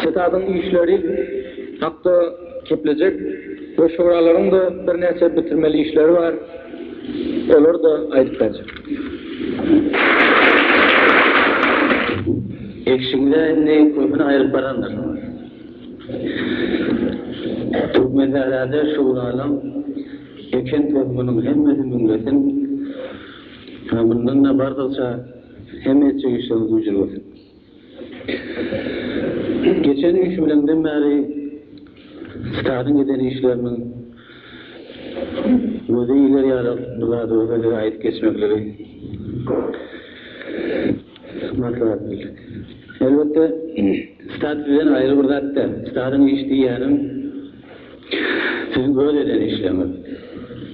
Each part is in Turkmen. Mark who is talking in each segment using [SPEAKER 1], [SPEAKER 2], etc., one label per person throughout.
[SPEAKER 1] Ştabyň işleri hakda geplejek we şuralaryň-da birnäçe bitirmeli işleri bar, olary-da aýdyp berjek.
[SPEAKER 2] Eşigiňize indi köpüni aýryp barandyr. Türkmensährada şuralaň eken tohumynyň hemmesi müňlesin we mundan-da bardygyça, Hemme etjek işleriňiz ücin bolsun. Geçen üç bileňden bäri stadyň eden işleriniň gözi iler ýarak bir zady bolsa size aýdyp geçmekligi maslahat bildik. Elbetde stad sizden aýry bir zat däl. Stadyň iş diýýänim siziň öz eden işleriňiz.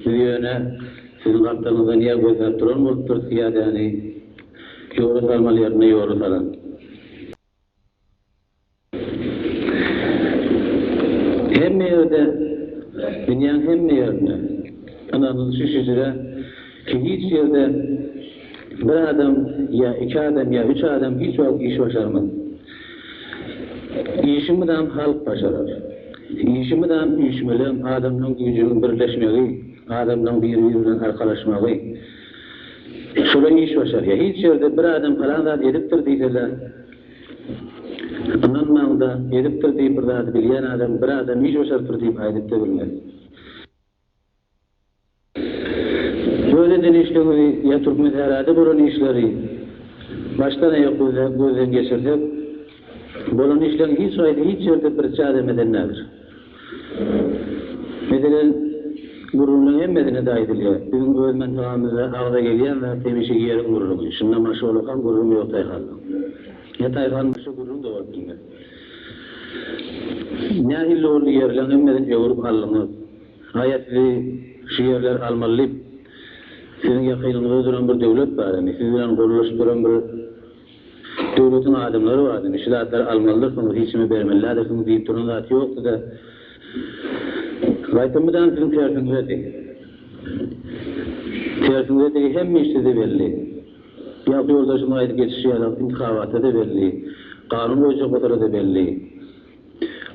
[SPEAKER 2] Biz ýöne Siziň gapdalyňyzdan ýer gözläp duran bolupdyr pyýadäni ýola salmaly ýerinde ýola salan. Hemme ýerde dünýäň hemme ýerinde ynanylyşy şüjre ki hiç ýerde bir adam ýa iki adam ýa üç adam hiç wagt iş başarmaz. Işimizam halk başarar. Işimizam üýşmeleň adamlaň güýjüniň birleşmegi, adamlaň biri biri bilen arkalaşmagy. Şola iş başarýa. Hiç ýerde bir adam palan zat edipdir diýsele ynanmaňda edipdir diýip bir zady bilýän adam bir adam iş başarypdyr diýip aýdypda bilmez. Öz edinişligimizi ýa Türkmensährada bolan işleri başdan-aýak gözden geçirsek, bolan işleriň hiç haýsy hiç ýerde birçi adam eden däldir. Meselem, gürrüňleriň hemmesinde-de aýdylýar, biziň öz mantagamyzda agza gelýän zat hemişe ýeriň gürrüňi. Şunda maşgala kam gürrüň ýok taýhandan. Ýa taýhan başa gürrüň-de bolup bilmez. Nähili boldy ýerleň hemmesini öwrüp aldyňyz. Şaýat sizi şu ýerler almaly diýip siziň ýakynyňyzda duran bir döwlet bar indi siz bilen gollaşyp duran bir döwletiň adamlary bar indi şu zatlary almalydyrsyňyz hiç nime bermelidädirsiňiz diýip duran zat ýokdyda gaýtam mydama siziň tersiňizedi tersiňizedigi hemme iş size belli. Ýagty ýoldaşymyň aýdyp geçişi ýaly, intihaba-da belli, kanun goýjak bolsa-da belli,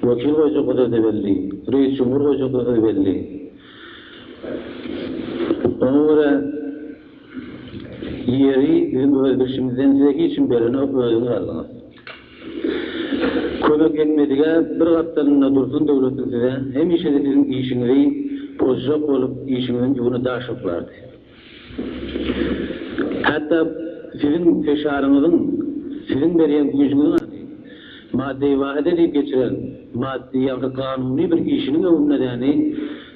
[SPEAKER 2] wekil goýjak bolsa-da belli, reýis jumhur goýjak bolsa-da belli. Oňa görä, ýeri biziň öz bilşimizden size hiç kim berenok, özüňiz aldyňyz. Kömek etmedige bir gapdalynda dursun döwletiň size hemişe-de siziň işiňizi pozjak bolup, işiňiziň ýügüni daş boklardy. Hatda siziň peşaryňyzyň, siziň berýän güýjüňiziň ady, madde-i wahide diýip geçiren maddi ýa-da kanuny bir işiniň öwünde-däni,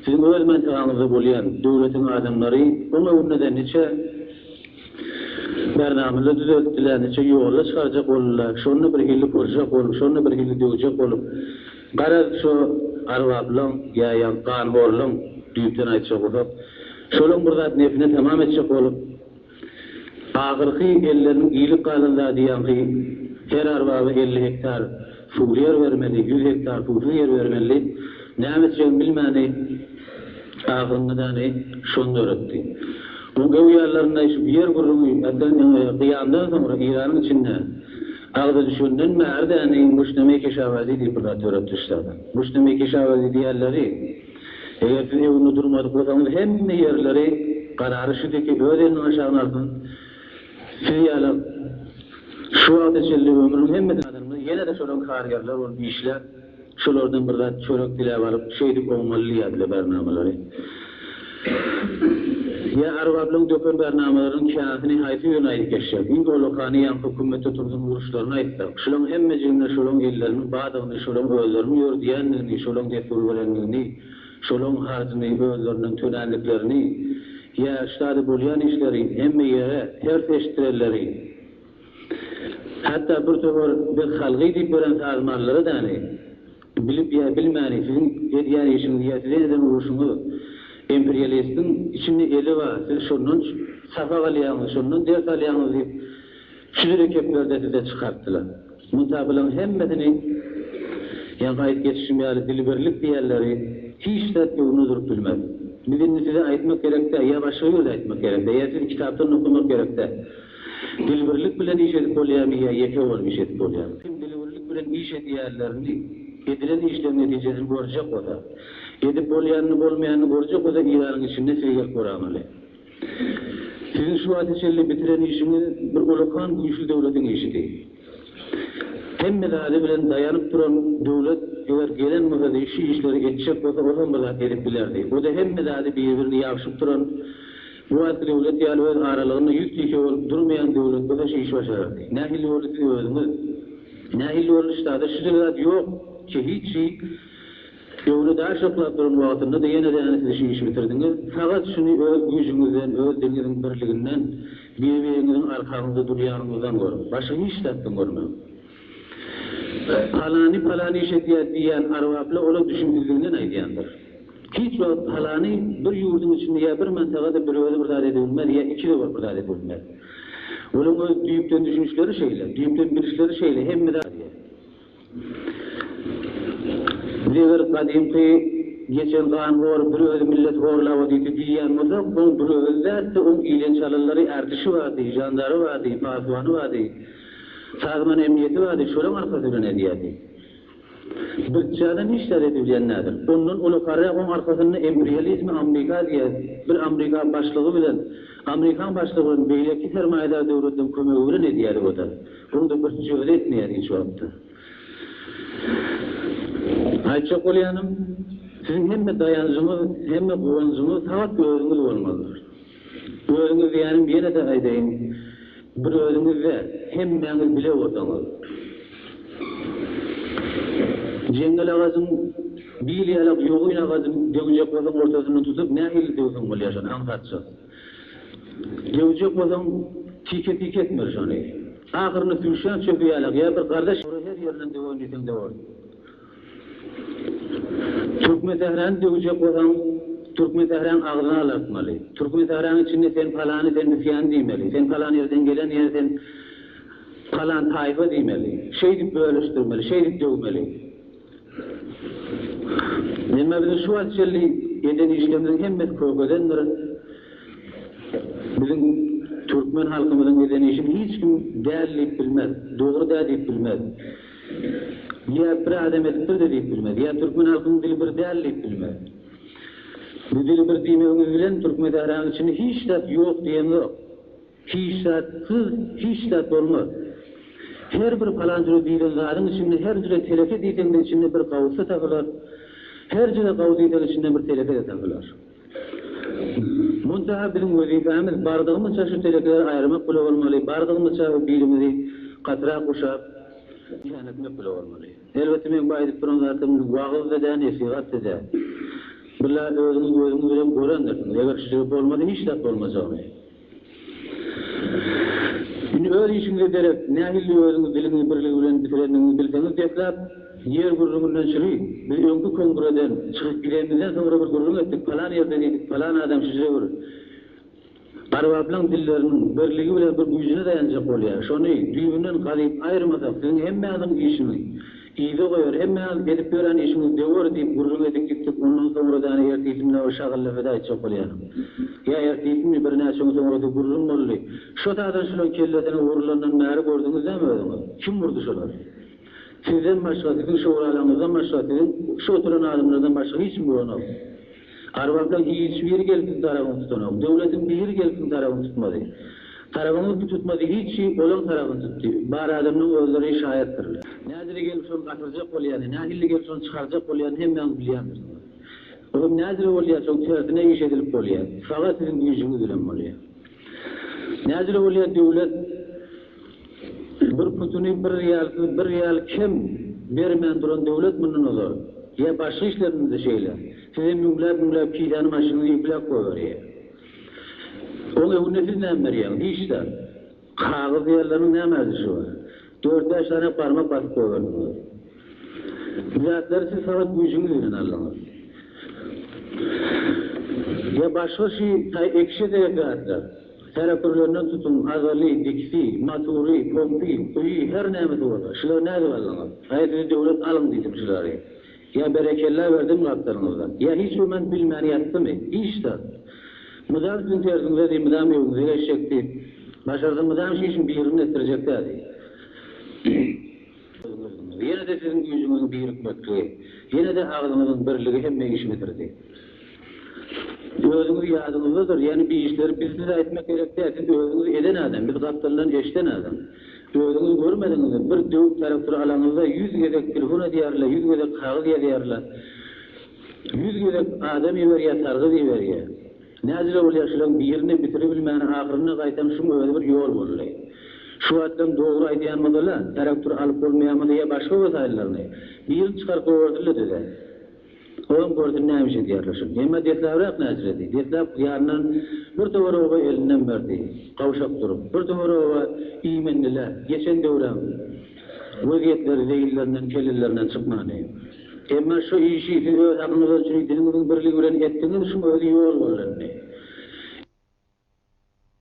[SPEAKER 2] siziň öz mentegaňyzda bolýan döwletiň adamlary oň öwünde-de niçe bernamla düzeltdiler, niçe ýola çykarjak boldular, şony bir hilli pyrjak bolup, şony bir hilli döwjek bolup, Garaz, şo Arbablaň, ýa-ýa Ganhorlaň düýpden aýtjak bolsak, şolam bir zat nefine tamam etjek bolup, ahyrky elleriniň iýlip galan zady ýaňky her Arbaba elli hektar suwly ýer bermeli, ýüz hektar suwsuz ýer bermeli, näme etjegini bilmäni ahyrynda däni şony döretdi. Oň öwýanlarynda şu ýer gürrüňi, äsgäm, gyýamdan soňra Eýranyň içinde, Agza düşenden bäri dänegiň muşdamy iki şabazy diýip bir zat döretdişlerdi. Muşdamy iki şabazy diýerleri, eger siz öwünde durmadyk bolsaňyz hemme ýerleri garary şidiki öz elinden aşagyna alsyn, siz ýaly şu wagta çenli ömrüniň hemmesini adamlar ýene-de şolar kargerler bolup işläp, Şolardan bir zat çörek diläp alyp, şeýdip oňmaly diýýärdiler bärnamalary. Ýa Arbaplaň döken bärnamalarynyň käsini haýsy birine aýdyp geçjek? Iň olakany ýa hökümete turzuň uruşlaryny aýtsak. Şulaň hemmejigine şolaň elleriniň badygyny, şolaň özleriniň ýördüýändigini, şolaň dessur berendigini, şolaň harjyny özlerinden tölänliklerini, ýa ştady bolýan işleri hemme ýere ters eşitdirerleri. Hatda bir töwir biz halgy diýip gören sazmanlara däli, bilip ýa bilmäni siziň edýän işiňiz ýa size eden uruşyňyz imperialistiň içinde eli bar, siz şondan sapak alýaňyz, şondan ders alýaňyz diýip çüzüle keplerde size çykartdylar. Munta bulaň hemmesini ýaňky aýdyp geçişim ýaly dilbirlik diýenleri hiç zat öňüne durup bilmez. Biz indi size aýtmak gerek däl, ýa başga ýerde aýtmak gerek däl, ýa sizi kitapdan okamak gerek däl. Dil birlik bilen iş edip bolýarmy ýa ýeke bolup iş edip bolýarmy? Kim dil birlik bilen iş edýärlerini, edilen işleň netijesini görjek bolsa, edip bolýanyny bolmaýanyny görjek bolsa Iranyň içinde size gelip göramaly. Siziň şu wagta çenli bitiren işiňiz bir ullakan güýçli döwletiň işidi. Hemme zady bilen daýanyp duran döwlet eger gelen bolsa size şu işleri etjek bolsa ol hem bir zat edip bilerdi. O-da hemme zady bir-birini ýabşyp duran Bu wagtky döwlet ýaly öz aralygynda ýüz tüýse bolup durmaýan döwletler-de şu işi başarardy. Nähili boldy siz özüňiz? Nähili boldy ştada şu dil zat ýok ki hiç şi döwri daş oklap duran wagtynda-da ýene-de-ýene siz şu işi bitirdiňiz. Sagat şuny öz güýjüňizden, öz diliňiziň birliginden, bir-biriňiziň arkaňyzda durýanyňyzdan görüň. Başga hiç zatdan görmäň. Palany palan iş edýär diýýän arbapla ola düşün izziginden aýdýandyr. Hiç wagt palany bir ýurduň içinde ýa bir mantagada bir özi bir zat edebilmez, ýa iki zowar bir zat edebilmez. Olaryň öz düýpden düşünişleri şeýle, düýpden bilişleri şeýle, hemme zat şeýle. Biz eger gadymky geçen ganhor bir özi millet horlaba diýdi diýýän bolsak, oň bir özi däldi, oň ilen çalanlary, ärdişi bardy, žandary bardy, pasuwany bardy, sazman emniyeti bardy, şolaryň arkasy bilen edýärdi. Birçäde nişler edilýän nädir. Ondan uly karä oň arkasynda empriýalizmi Amrika diýýär, bir Amrika başlygy bilen, Amrikan başlygy bilen beýleki sermaýadar döwletleriň kömegi bilen edýär o-da. Oň-da birçäde etmeýär hiç wagtda. Aýtjak bolýanym, siziň hemme daýanjyňyz, hemme guwanjyňyz sagat özüňiz bolmalydyr. Özüňiz diýýänim, ýene-de aýdaýyn, bir özüňiz-de, hemmäňiz bile bolsaňyz, jeňňel agajyň bil ýalak ýogyn agajyny döwjek bolsaň ortasyndan tutup nähili döwseň bolýar şony aňsatjak. Döwjek bolsaň tike-tike etmeli şony. Ahyrynda süýşýän çöpi ýalak ýa bir gardaş ýa her ýerinden döwen diýseň döwersiň. Türkmensähräni döwjek bolsaň, Türkmensähräň agzyny alartmaly. Türkmensähräň içinde sen palany, sen üsýany diýmeli. Sen palan ýerden gelen ýa sen palan taýpa diýmeli. Şeýdip bölüşdirmeli, şeýdip döwmeli. Emma biziň şu wagt çenli eden işlerimiziň hemmesi kökedendir. Biziň türkmen halkymyzyň eden işini hiç kim däl diýip bilmez, dogry däl diýip bilmez. Ýa bir adam edip bir-de diýip bilmez, ýa türkmen halkynyň dili bir däl diýip bilmez. Bu dili bir diýmegiňiz bilen Türkmesahranyň içinde hiç zat ýok diýemzok. Hiç zatsyz hiç zat bolmaz. Her bir palanjyra diýlen zadyň içinde her jüre teleke diýseň-de içinde bir gawusy tapylar, her jüre gawy diýseň içinde bir teleke-de tapylar. Muntaha biziň wezipämiz bardygymyzça şu telekeleri aýyrmak bile bolmaly, bardygymyzça bu birimizi gatyrak guşap, diýän etmek bile bolmaly. Elbetde meň bu aýdyp duran zatym wagyz-da däl, nesihat-da däl. Billa özüňiz gözüňiz bilen görendirsiňiz, eger şu ýigit bolmasa hiç zat bolmajagyny. Indi öz işiňize derek, nähilli özüňiz diliňizi birligi bilen bitireniňizi bilseňiz desläp, ýer gürrüňinden çygy, biz öňki kongreden çykyp gidenimizden soňra bir gürrüň etdik, palan ýerde diýdik, palan adam şüjre bir Arbaplaň dilleriniň birligi bilen bir güýjüne daýanjak bolýar, şony düýbünden gazyp aýyrmasak siziň hemmäňiziň işiňi Yza goýar, hemmäňiz edip ýören işiňiz döwer diýip gürrüň edip gitdik, ondan soňra-däne ertisinmi bir şagylly weda etjek bolýaryn. Ýa ertisinmi, birnäçe gün soňra-da gürrüň boldy, Şo taýdan şulaň kellesine urulandan bäri gördüňiz näme özüňiz? Kim urdy şolar? Sizden başga, siziň şöwralaňyzdan başga, siziň şu oturan adamlardan başga hiç kim uranok. Arwahlar hiç biri gelsiň tarabyňy tutanok. Döwletiň biri gelsiň tarabyňy tutmady. Tarabyňy ki tutmady hiçi olaň tarabyny tutdy. Bar adamlaň özleri şaýatdyr. Nädiri gelip şony gatyrjak bolýany, nähilli gelip şony çykarjak bolýany hemmäňiz bilýändirsiňiz. Bu hem nädiri bolýar şoň tersine iş edilip bolýar. Saga siziň güýjüňiz bilen bolýar. Nädiri bolýar döwlet. Bir putuny bir ýalsyz bir ýal kem bermän duran döwlet mundan ozal, ýa başga işlerinizde şeýle, size müňläp müňläp kisany maşynyny ýükläp goýberýär. Oň öňünde siz näme berýäňiz? Hiç zat. Kagyz diýerleriniň näme arzşy bar? Dört bäş sany barmak basyp goýberdiňiz. Bu zatlary siz faqat güýjüňiz bilen aldyňyz. Ýa başga şy ekişe derek zatlar. Tärekürlerinden tutuň, azaly, dikisi, matury, pompy, guýy, her nämesi bolsa, şulary nädip aldyňyz? Aý, sizi döwlet alyň diýdim şulary. Ýa berekella berdim gapdalyňyzda. Ýa hiç bir men bilmän ýatdymy? Hiç zat. Mydam siziň terziňize diý, mydam öýüňize geçjek diý. Başarsa mydam şişiň birini etdirjek-dä diý. Özüňiziň, ýene-de siziň güýjüňiziň birikmekligi, ýene-de agzyňyzyň birligi hemme işi bitirdi. Özüňiz ýadyňyzdadyr, ýagny bi işleri biz size aýtmak gerek däl, siz özüňiz eden adam, biz gapdaldan eşiden adam. Özüňiz görmediňizmi, bir döwük taraktory alaňyzda ýüz gezek telefon edýärler, ýüz gezek kagyz ýazýarlar, ýüz gezek adam iberýär, sargyt iberýär. Nädip öwürýär şulaň birini bitiribilmän ahyrynda gaýtam şuň özi bir ýol boldy. Şu wagtdan dogry aýdýan bolsala taraktor alyp bolmaýamydy ýa başga wesaýyllaryny. Birini çykaryp goýberdildi düze. Olam görsün nämiş edýärler şuny. Emma deslabrak näçiredi. Deslap gyýandan bir töwer oba elinden berdi. Gawşak durup. Bir töwer oba iýmendiler. Geçen döwüräm. Wezýetleri zeýillerinden kellelerinden çykmady. Emma şu işi siz öz hakyňyza üçin diliňiziň birligi bilen etdiňiz şuň özi ýol bollenni.